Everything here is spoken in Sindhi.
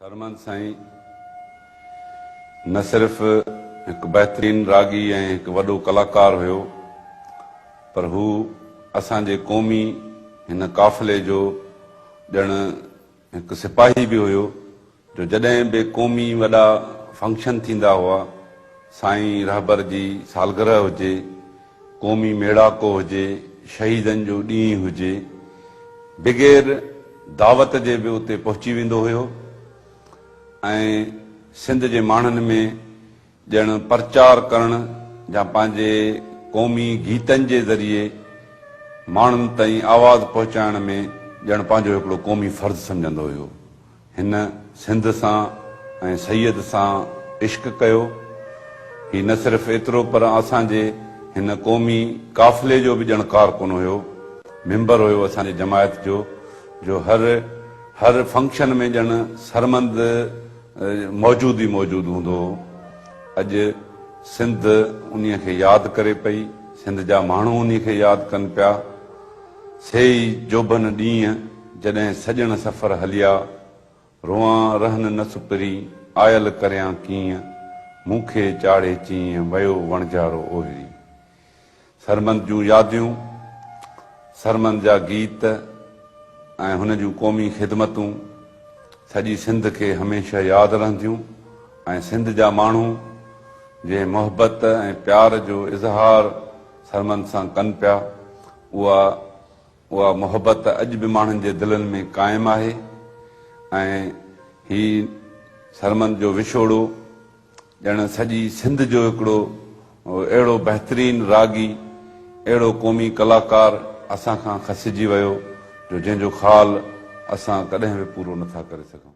سرمند سائين نه صرف هڪ بهترين راڳي ۽ هڪ وڏو ڪلاڪار هيو پر هو اسان جي قومي هن قافلي جو ڄڻ هڪ سپاهي به هيو جو جڏهن به قومي وڏا فنڪشن ٿيندا هئا سائين رهبر جي سالگرهه هجي قومي ميڙاڪو هجي، شهيدن جو ڏينهن هجي، بغير دعوت جي به اتي پهچي ويندو هيو ۽ سنڌ جي ماڻهن ۾ ڄڻ پرچار ڪرڻ جا پنهنجي قومي گيتن جي ذريعي ماڻهن تائين آواز پهچائڻ ۾ ڄڻ پنهنجو هڪڙو قومي فرض سمجهندو هيو. هن سنڌ سان ۽ سيد سان عشق ڪيو. هي نه صرف ايترو پر اسان جي هن قومي قافلي جو به ڄڻ ڪارڪن هيو، ميمبر هيو اسان جي جماعت جو، جو هر هر فنڪشن ۾ ڄڻ سرمند موجود ئي موجود هوندو هو. اڄ سنڌ انهي کي ياد ڪري پئي، سنڌ جا ماڻهو انهي کي ياد ڪن پيا. سي ئي جوڀن ڏينهن جڏهن سڄڻ سفر هليا، روئان رهن نه سپرين، آيل ڪريان ڪيئن، مون کي چاڙهي چيئن، ويو وڻجارو اوهري. سرمند جون ياديون، سرمند جا گيت ۽ هن جون قومي خدمتون سڄي سنڌ کي هميشه ياد رهنديون ۽ سنڌ جا ماڻهو جنهن محبت ۽ پيار جو اظهار ٿرمن سان ڪن پيا، اها اها محبت اڄ به ماڻهن جي دلن ۾ قائم آهي ۽ هي ٿرمن جو وڇوڙو ڄڻ سڄي سنڌ جو هڪڙو اهڙو بهترين راڳي، اهڙو قومي ڪلاڪار اسان کان کسجي ويو جو جنهن جو خال اسان ڪڏهن به پورو نٿا ڪري سگهون.